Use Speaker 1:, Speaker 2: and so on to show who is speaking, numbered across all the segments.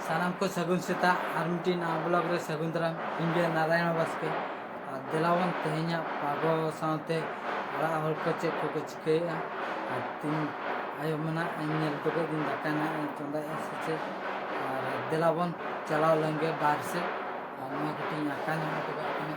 Speaker 1: ᱥᱟᱱᱟᱢ ᱠᱚ ᱥᱟᱹᱜᱩᱱ ᱥᱮᱛᱟᱜ ᱟᱨ ᱢᱤᱫᱴᱤᱡ ᱱᱟᱣᱟ ᱵᱞᱚᱜ ᱨᱮ ᱥᱟᱹᱜᱩᱱ ᱫᱟᱨᱟᱢ ᱤᱧ ᱜᱮ ᱱᱟᱨᱟᱭᱚᱱ ᱵᱟᱥᱠᱮ ᱟᱨ ᱫᱮᱞᱟᱵᱚᱱ ᱛᱮᱦᱮᱧᱟᱜ ᱯᱟᱜᱚ ᱥᱟᱶᱛᱮ ᱚᱲᱟᱜ ᱦᱚᱲ ᱠᱚ ᱪᱮᱫ ᱠᱚᱠᱚ ᱪᱤᱠᱟᱹᱭᱮᱫᱼᱟ ᱟᱨ ᱛᱤᱧ ᱟᱭᱳ ᱢᱮᱱᱟᱜ ᱤᱧ ᱧᱮᱞ ᱦᱚᱴᱚ ᱠᱮᱫ ᱜᱤᱧ ᱫᱟᱠᱟ ᱱᱟᱜ ᱤᱧ ᱪᱚᱸᱫᱟᱭᱮᱫᱼᱟ ᱥᱮ ᱪᱮᱫ ᱟᱨ ᱫᱮᱞᱟᱵᱚᱱ ᱪᱟᱞᱟᱣ ᱞᱮᱱᱜᱮ ᱵᱟᱨᱦᱮ ᱥᱮᱫ ᱟᱨ ᱱᱚᱣᱟ ᱠᱟᱹᱴᱤᱡ ᱤᱧ ᱟᱸᱠᱟ ᱧᱚᱜ ᱦᱚᱴᱚ ᱠᱟᱜ ᱠᱟᱱᱟ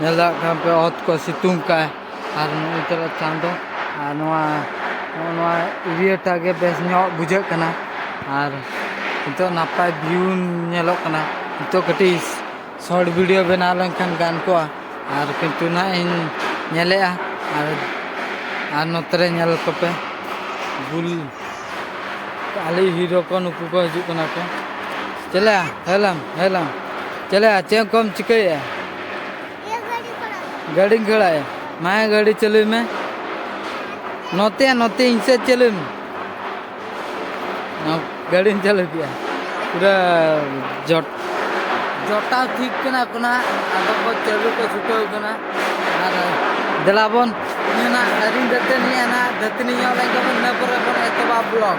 Speaker 1: ᱧᱮᱞ ᱫᱟᱲᱮᱭᱟᱜ ᱠᱟᱱ ᱯᱮ ᱚᱛ ᱠᱚ ᱥᱤᱛᱩᱝ ᱠᱟᱜᱼᱟᱭ ᱟᱨ ᱱᱩᱭ ᱛᱟᱞᱮ ᱪᱟᱸᱫᱚ ᱟᱨ ᱱᱚᱣᱟ ᱱᱚᱜᱼᱚ ᱱᱚᱣᱟ ᱮᱨᱤᱭᱟᱴᱟᱜ ᱜᱮ ᱵᱮᱥ ᱧᱚᱜ ᱵᱩᱡᱷᱟᱹᱜ ᱠᱟᱱᱟ ᱟᱨ ᱱᱤᱛᱚᱜ ᱱᱟᱯᱟᱭ ᱵᱷᱤᱭᱩ ᱧᱮᱞᱚᱜ ᱠᱟᱱᱟ ᱱᱤᱛᱚᱜ ᱠᱟᱹᱴᱤᱡ ᱥᱚᱨᱴ ᱵᱷᱤᱰᱤᱭᱳ ᱵᱮᱱᱟᱣ ᱞᱮᱱᱠᱷᱟᱱ ᱜᱟᱱ ᱠᱚᱜᱼᱟ ᱟᱨ ᱠᱤᱱᱛᱩ ᱱᱟᱜ ᱤᱧ ᱧᱮᱞᱮᱫᱼᱟ ᱟᱨ ᱟᱨ ᱱᱚᱛᱮ ᱨᱮ ᱧᱮᱞ ᱠᱚᱯᱮ ᱵᱩᱞ ᱟᱞᱮᱭᱤᱡ ᱦᱤᱨᱳ ᱠᱚ ᱱᱩᱠᱩ ᱠᱚ ᱦᱤᱡᱩᱜ ᱠᱟᱱᱟ ᱠᱚ ᱪᱮᱞᱮᱭᱟ ᱦᱮᱞᱟᱢ ᱦᱮᱞᱟᱢ ᱪᱮᱞᱮᱭᱟ ᱪᱮᱫ ᱠᱚᱢ ᱪᱤᱠᱟᱹᱭᱮᱫᱼᱟ? ᱤᱭᱟᱹ ᱜᱟᱹᱰᱤ ᱠᱚᱨᱟᱣ ᱜᱟᱹᱰᱤᱧ ᱜᱷᱚᱲᱟᱭᱟ ᱢᱟ ᱜᱟᱹᱰᱤ ᱪᱟᱹᱞᱩᱭ ᱢᱮ ᱱᱚᱛᱮ ᱱᱚᱛᱮ ᱤᱧ ᱥᱮᱫ ᱪᱟᱹᱞᱩᱭ ᱢᱮ ᱜᱟᱹᱰᱤᱧ ᱪᱟᱹᱞᱩ ᱠᱮᱫᱼᱟ ᱯᱩᱨᱟᱹ ᱡᱚᱴ ᱡᱚᱴᱟᱣ ᱴᱷᱤᱠ ᱠᱟᱱᱟ ᱠᱚ ᱱᱟᱜ ᱟᱫᱚ ᱠᱚ ᱪᱟᱹᱞᱩ ᱠᱚ ᱪᱷᱩᱴᱟᱹᱣ ᱠᱟᱱᱟ ᱟᱨ ᱫᱮᱞᱟ ᱵᱚᱱ ᱤᱧ ᱱᱟᱜ ᱟᱹᱣᱨᱤᱧ ᱫᱟᱹᱛᱟᱹᱱᱤᱜᱼᱟ ᱱᱟᱜ ᱫᱟᱹᱛᱟᱹᱱᱤ ᱧᱚᱜ ᱞᱮᱱ ᱜᱮᱵᱚᱱ ᱤᱱᱟᱹ ᱯᱚᱨᱮ ᱵᱚᱱ ᱮᱛᱚᱦᱚᱵᱟ ᱵᱞᱚᱜᱽ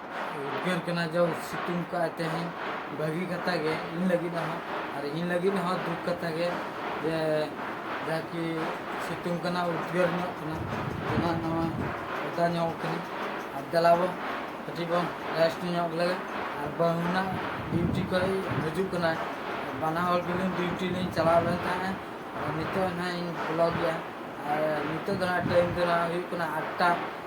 Speaker 1: ᱩᱫᱽᱜᱟᱹᱨ ᱠᱟᱱᱟ ᱡᱮ ᱥᱤᱛᱩᱝ ᱠᱟᱜᱼᱟᱭ ᱛᱮᱦᱮᱧ ᱵᱷᱟᱹᱜᱤ ᱠᱟᱛᱷᱟ ᱜᱮ ᱤᱧ ᱞᱟᱹᱜᱤᱫ ᱦᱚᱸ ᱟᱨ ᱤᱧ ᱞᱟᱹᱜᱤᱫ ᱦᱚᱸ ᱫᱩᱠ ᱠᱟᱛᱷᱟ ᱜᱮ ᱡᱮ ᱡᱟᱦᱟᱸ ᱠᱤ ᱥᱤᱛᱩᱝ ᱠᱟᱱᱟ ᱩᱫᱽᱜᱟᱹᱨ ᱧᱚᱜ ᱠᱟᱱᱟ ᱚᱱᱟ ᱱᱚᱣᱟ ᱚᱫᱟ ᱧᱚᱜ ᱠᱟᱱᱟ ᱟᱨ ᱫᱮᱞᱟᱵᱚ ᱠᱟᱹᱴᱤᱡ ᱵᱚᱱ ᱨᱮᱥᱴ ᱧᱚᱜ ᱞᱮᱜᱮ ᱟᱨ ᱵᱟᱹᱦᱩᱱᱟᱜ ᱰᱤᱭᱩᱴᱤ ᱠᱷᱚᱡ ᱦᱤᱡᱩᱜ ᱠᱟᱱᱟᱭ ᱵᱟᱱᱟ ᱦᱚᱲ ᱜᱮᱞᱤᱧ ᱰᱤᱭᱩᱴᱤ ᱞᱤᱧ ᱪᱟᱞᱟᱣ ᱞᱮᱱ ᱛᱟᱦᱮᱸᱫ ᱱᱤᱛᱚᱜ ᱱᱟᱦᱟᱜ ᱤᱧ ᱵᱚᱞᱚᱜ ᱜᱮᱭᱟ ᱟᱨ ᱱᱤᱛᱚᱜ ᱫᱚ ᱦᱟᱸᱜ ᱴᱟᱭᱤᱢ ᱫᱚ ᱦᱟᱸᱜ ᱦᱩᱭᱩᱜ ᱠᱟᱱᱟ ᱟᱴᱴᱟ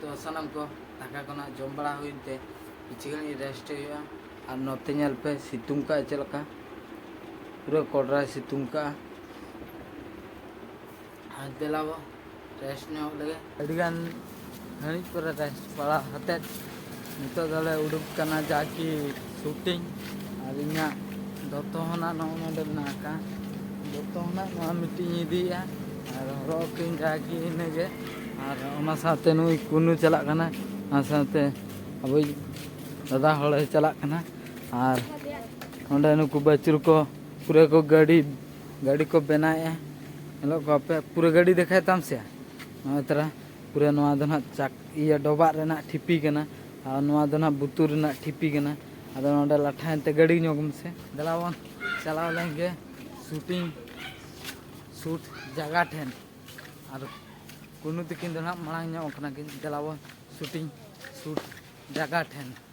Speaker 1: ᱛᱚ ᱥᱟᱱᱟᱢ ᱠᱚ ᱫᱟᱠᱟ ᱠᱚᱱᱟᱜ ᱡᱚᱢ ᱵᱟᱲᱟ ᱦᱩᱭᱮᱱ ᱛᱮ ᱠᱤᱪᱷᱩ ᱜᱟᱱ ᱨᱮᱥᱴ ᱦᱩᱭᱩᱜᱼᱟ ᱟᱨ ᱱᱚᱛᱮ ᱧᱮᱞ ᱯᱮ ᱥᱤᱛᱩᱝ ᱠᱟᱜᱼᱟ ᱪᱮᱫ ᱞᱮᱠᱟ ᱯᱩᱨᱟᱹ ᱠᱚᱰᱨᱟᱭ ᱥᱤᱛᱩᱝ ᱠᱟᱜᱼᱟ ᱟᱨ ᱫᱮᱞᱟᱵᱚ ᱨᱮᱥᱴ ᱧᱚᱜ ᱞᱮᱜᱮ ᱟᱹᱰᱤᱜᱟᱱ ᱜᱷᱟᱹᱲᱤᱡ ᱯᱚᱨᱮ ᱨᱮᱥᱴ ᱵᱟᱲᱟ ᱠᱟᱛᱮᱫ ᱱᱤᱛᱚᱜ ᱫᱚᱞᱮ ᱩᱰᱩᱠ ᱠᱟᱱᱟ ᱡᱟᱠᱤ ᱥᱩᱴᱤᱝ ᱟᱨ ᱤᱧᱟᱹᱜ ᱫᱚᱛᱚ ᱦᱚᱱᱟᱜ ᱱᱚᱜᱼᱚ ᱱᱚᱰᱮ ᱢᱮᱱᱟᱜ ᱟᱠᱟᱫ ᱫᱚᱛᱚ ᱦᱚᱱᱟᱜ ᱱᱚᱣᱟ ᱢᱤᱫᱴᱤᱡ ᱤᱧ ᱤᱫᱤᱭᱮᱫᱼᱟ ᱟᱨ ᱦᱚᱨᱚᱜ ᱟᱠᱚᱧ ᱡᱟᱠᱤ ᱤᱱᱟᱹᱜᱮ ᱟᱨ ᱚᱱᱟ ᱥᱟᱶᱛᱮ ᱱᱩᱭ ᱠᱩᱱᱩ ᱪᱟᱞᱟᱜ ᱠᱟᱱᱟ ᱚᱱᱟ ᱥᱟᱶᱛᱮ ᱟᱵᱚᱭᱤᱡ ᱫᱟᱫᱟ ᱦᱚᱲᱮ ᱪᱟᱞᱟᱜ ᱠᱟᱱᱟ ᱟᱨ ᱚᱸᱰᱮ ᱱᱩᱠᱩ ᱵᱟᱹᱪᱩᱨ ᱠᱚ ᱯᱩᱨᱟᱹ ᱠᱚ ᱜᱟᱹᱰᱤ ᱜᱟᱹᱰᱤ ᱠᱚ ᱵᱮᱱᱟᱣᱮᱫᱼᱟ ᱧᱮᱞᱚᱜ ᱠᱚᱣᱟᱯᱮ ᱯᱩᱨᱟᱹ ᱜᱟᱹᱰᱤ ᱫᱮᱠᱷᱟᱭ ᱛᱟᱢ ᱥᱮᱭᱟ ᱱᱚᱜᱼᱚᱭ ᱛᱚᱨᱟ ᱯᱩᱨᱟᱹ ᱱᱚᱣᱟ ᱫᱚ ᱱᱟᱦᱟᱜ ᱪᱟᱠ ᱤᱭᱟᱹ ᱰᱚᱵᱟᱜ ᱨᱮᱱᱟᱜ ᱴᱷᱤᱯᱤ ᱠᱟᱱᱟ ᱟᱨ ᱱᱚᱣᱟ ᱫᱚ ᱱᱟᱦᱟᱜ ᱵᱩᱛᱩᱨ ᱨᱮᱱᱟᱜ ᱴᱷᱤᱯᱤ ᱠᱟᱱᱟ ᱟᱫᱚ ᱱᱚᱰᱮ ᱞᱟᱴᱷᱟᱭᱮᱱ ᱛᱮ ᱜᱟᱹᱰᱤ ᱧᱚᱜᱽ ᱢᱮᱥᱮ ᱫᱮᱞᱟ ᱵᱚᱱ ᱪᱟᱞᱟᱣ ᱞᱮᱱ ᱜᱮ ᱥᱩᱴᱤᱝ ᱥᱩᱴ ᱡᱟᱭᱜᱟ ᱴᱷᱮᱱ ᱟᱨ ᱠᱩᱱᱩ ᱛᱤᱠᱤᱱ ᱫᱚ ᱱᱟᱦᱟᱜ ᱢᱟᱲᱟᱝ ᱧᱚᱜ ᱠᱟᱱᱟ ᱠᱤᱱ ᱫᱮᱞᱟ ᱵᱚᱱ ᱥᱩᱴᱤᱝ ᱥᱩᱴ ᱡᱟᱭᱜᱟ ᱴᱷᱮᱱ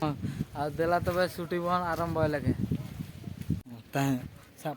Speaker 1: ᱦᱚᱸ ᱟᱨ ᱫᱮᱞᱟ ᱛᱚᱵᱮ ᱥᱩᱴᱤ ᱵᱚᱱ ᱟᱨᱟᱢᱵᱚᱭ ᱞᱮᱜᱮ ᱛᱟᱦᱮᱸ ᱥᱟᱵ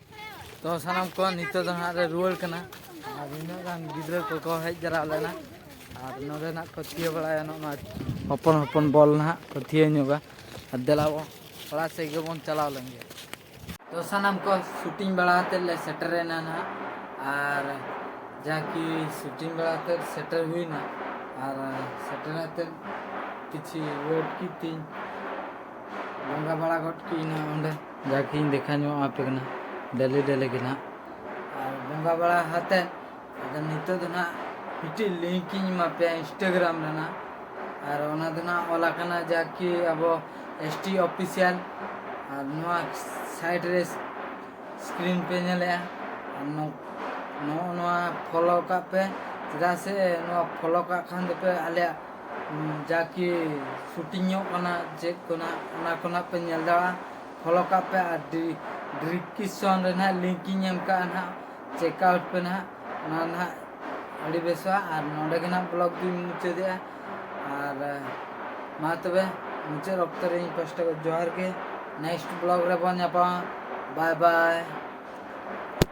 Speaker 1: ᱛᱚ ᱥᱟᱱᱟᱢ ᱠᱚ ᱱᱤᱛᱚᱜ ᱫᱚ ᱦᱟᱸᱜ ᱞᱮ ᱨᱩᱣᱟᱹᱲ ᱠᱟᱱᱟ ᱟᱨ ᱱᱤᱱᱟᱹᱜ ᱜᱟᱱ ᱜᱤᱫᱽᱨᱟᱹ ᱠᱚᱠᱚ ᱦᱮᱡ ᱡᱟᱣᱨᱟ ᱞᱮᱱᱟ ᱟᱨ ᱱᱚᱰᱮ ᱱᱟᱜ ᱠᱚ ᱛᱷᱤᱭᱟᱹ ᱵᱟᱲᱟᱭᱟ ᱱᱚᱜᱼᱚ ᱱᱚᱣᱟ ᱦᱚᱯᱚᱱ ᱦᱚᱯᱚᱱ ᱵᱚᱞ ᱱᱟᱦᱟᱜ ᱠᱚ ᱛᱷᱤᱭᱟᱹ ᱧᱚᱜᱟ ᱟᱨ ᱫᱮᱞᱟ ᱵᱚᱱ ᱚᱲᱟᱜ ᱥᱮᱫ ᱜᱮᱵᱚᱱ ᱪᱟᱞᱟᱣ ᱞᱮᱱ ᱜᱮ ᱛᱚ ᱥᱟᱱᱟᱢ ᱠᱚ ᱥᱩᱴᱤᱝ ᱵᱟᱲᱟ ᱠᱟᱛᱮᱫ ᱞᱮ ᱥᱮᱴᱮᱨᱮᱱᱟ ᱱᱟᱦᱟᱜ ᱟᱨ ᱡᱟᱠᱤ ᱥᱩᱴᱤᱝ ᱵᱟᱲᱟ ᱠᱟᱛᱮᱫ ᱥᱮᱴᱮᱨ ᱦᱩᱭᱱᱟ ᱟᱨ ᱥᱮᱴᱮᱨ ᱠᱟᱛᱮᱫ ᱠᱤᱪᱷᱩ ᱣᱮᱴ ᱠᱤᱫᱟᱹᱧ ᱵᱚᱸᱜᱟ ᱵᱟᱲᱟ ᱜᱚᱫ ᱠᱤᱫᱟᱹᱧ ᱚᱸᱰᱮ ᱡᱟᱜᱮᱧ ᱫᱮᱠᱷᱟ ᱧᱚᱜ ᱟᱯᱮ ᱠᱟᱱᱟ ᱰᱮᱞᱤ ᱰᱮᱞᱤ ᱜᱮ ᱱᱟᱦᱟᱜ ᱟᱨ ᱵᱚᱸᱜᱟ ᱵᱟᱲᱟ ᱠᱟᱛᱮᱫ ᱟᱫᱚ ᱱᱤᱛᱚᱜ ᱫᱚ ᱱᱟᱦᱟᱜ ᱢᱤᱫᱴᱤᱡ ᱞᱤᱝᱠ ᱤᱧ ᱮᱢᱟ ᱯᱮᱭᱟ ᱤᱱᱥᱴᱟᱜᱨᱟᱢ ᱨᱮᱱᱟᱜ ᱟᱨ ᱚᱱᱟ ᱫᱚ ᱱᱟᱦᱟᱜ ᱚᱞ ᱟᱠᱟᱱᱟ ᱡᱟᱠᱤ ᱟᱵᱚ ᱮᱥ ᱴᱤ ᱚᱯᱷᱤᱥᱤᱭᱟᱞ ᱟᱨ ᱱᱚᱣᱟ ᱥᱟᱭᱤᱰ ᱨᱮ ᱥᱠᱨᱤᱱ ᱯᱮ ᱧᱮᱞᱮᱜᱼᱟ ᱟᱨ ᱱᱚᱜᱼᱚ ᱱᱚᱣᱟ ᱯᱷᱳᱞᱳ ᱠᱟᱜ ᱯᱮ ᱪᱮᱫᱟᱜ ᱥᱮ ᱱᱚᱣᱟ ᱯᱷᱳᱞᱳ ᱠᱟᱜ ᱠᱷᱟᱱ ᱫᱚᱯᱮ ᱟᱞᱮᱭᱟᱜ ᱡᱟ ᱠᱤ ᱥᱩᱴᱤᱝ ᱧᱚᱜ ᱠᱟᱱᱟ ᱪᱮᱫ ᱠᱚ ᱱᱟᱦᱟᱜ ᱚᱱᱟ ᱠᱚ ᱱᱟᱦᱟᱜ ᱯᱮ ᱧᱮᱞ ᱫᱟᱲᱮᱭᱟᱜᱼᱟ ᱯᱷᱚᱞᱳ ᱠᱟᱜ ᱯᱮ ᱟᱨ ᱰᱤᱥᱠᱨᱤᱯᱥᱚᱱ ᱨᱮ ᱱᱟᱦᱟᱜ ᱞᱤᱝᱠ ᱤᱧ ᱮᱢ ᱠᱟᱜᱼᱟ ᱱᱟᱦᱟᱜ ᱪᱮᱠ ᱟᱣᱩᱴ ᱯᱮ ᱱᱟᱦᱟᱜ ᱚᱱᱟ ᱱᱟᱦᱟᱜ ᱟᱹᱰᱤ ᱵᱮᱥᱚᱜᱼᱟ ᱟᱨ ᱱᱚᱰᱮ ᱜᱮ ᱱᱟᱦᱟᱜ ᱵᱞᱚᱜ ᱫᱩᱧ ᱢᱩᱪᱟᱹᱫᱮᱜᱼᱟ ᱟᱨ ᱢᱟ ᱛᱚᱵᱮ ᱢᱩᱪᱟᱹᱫ ᱚᱠᱛᱚ ᱨᱮ ᱤᱧ ᱯᱟᱥᱴᱟ ᱡᱚᱦᱟᱨ ᱜᱮ ᱱᱮᱠᱥᱴ ᱵᱞᱚᱜ ᱨᱮᱵᱚᱱ ᱧᱟᱯᱟᱢᱟ ᱵᱟᱭ ᱵᱟᱭ